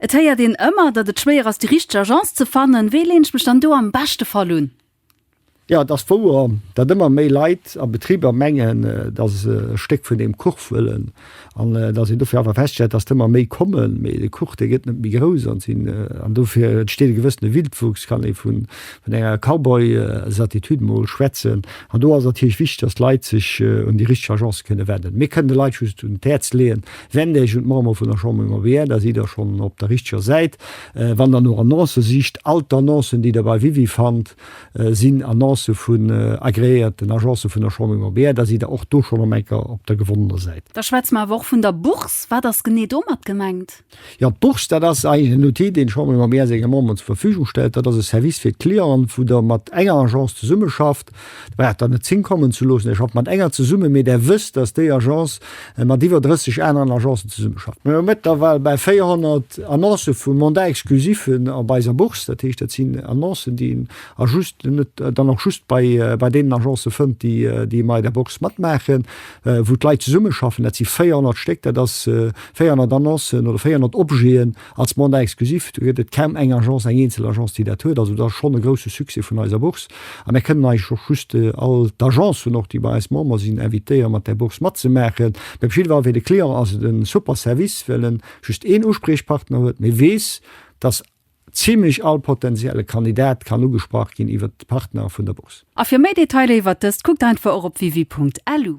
Et héiert een ëmmer, datt et schwéier ass, déi richteg Agence ze fannen. Wéi leen ech mech dann do am beschte Fall un? Jo, et ass wouer, datt ëmmer méi Leit a Betriber mengen, datt se e Stéck vun deem Kuch wëllen an datt een dofir awer feststellt, datt der ëmmer méi kommen. Mee de Kuch, dee gëtt net méi grouss an sinn an dofir entsteet e gewëssene Wildwuchs, kann ee vun enger Cowboy-Certitude mol schwätzen. An do ass et natierlech wichteg, datt d'Leit sech un déi richteg Agence kënne wennen. Mir kënnen de Leit just un d'Häerz leeën, Wennt Iech un d'Membere vun der Chambre immobilière, da sidd Der schonn op der richteger Säit. Wann Der no Annoncë sicht, all d'Annoncen, déi Der bei Wiwi fannt, sinn Annoncë vun agreéierten Agencë vun der Chambre immobilière. Da sidd Der och do schonn am Enker op der gewonnener Säit. Da schwätze mer awer och vun der Bourse. Wat ass genee domat gemengt? Jo, d'Bourse, dat ass eigentlech en Outil, deen d'Chambre immobilière senge Memberen zur Verfügung stellt. Dat ass e Service fir d'Clienten, wou Der mat enger Agence zesummeschafft D'Brat dann net zingkommen ze loossen. Ech schaffe mat enger zesumme, mee Der wësst, dass déi Agence mat iwwer 30 aneren Agencen zesummeschafft. Mir hu mëttlerweil bal 400 Annoncë vu Mandat exclusif op eiser Bourse. Dat heescht, dat sinn Annoncen, déi een dann och just bei deenen Agencë fënnt, déi ëmmer der Bourse matmaachen, wou d'Leit zesummeschaffen. Dat si 400 Stéck, dat ass 400 Annoncen oder 400 Objeten. Als Mandat exclusif, do gëtt et kaum eng Agence, eng eenzel Agence, déi dat huet. Also dat ass schonn e grousse Succès vun eiser Bourse. A mir kënnen eigentlech och just all d'Agencen och, déi bei eis Member sinn, invitéieren, mat där Bourse matzemaachen. Mee op jidde Fall fir de Client ass et e super Service, well en just een Uspriechpartner huet, mee weess, dass zimlech all potentielle Kandidat kann ugesprach ginn iwwert d'Partner vun der Bourse. A fir méi Detailer iwwert dëst, kuckt einfach och op wiwi.lu.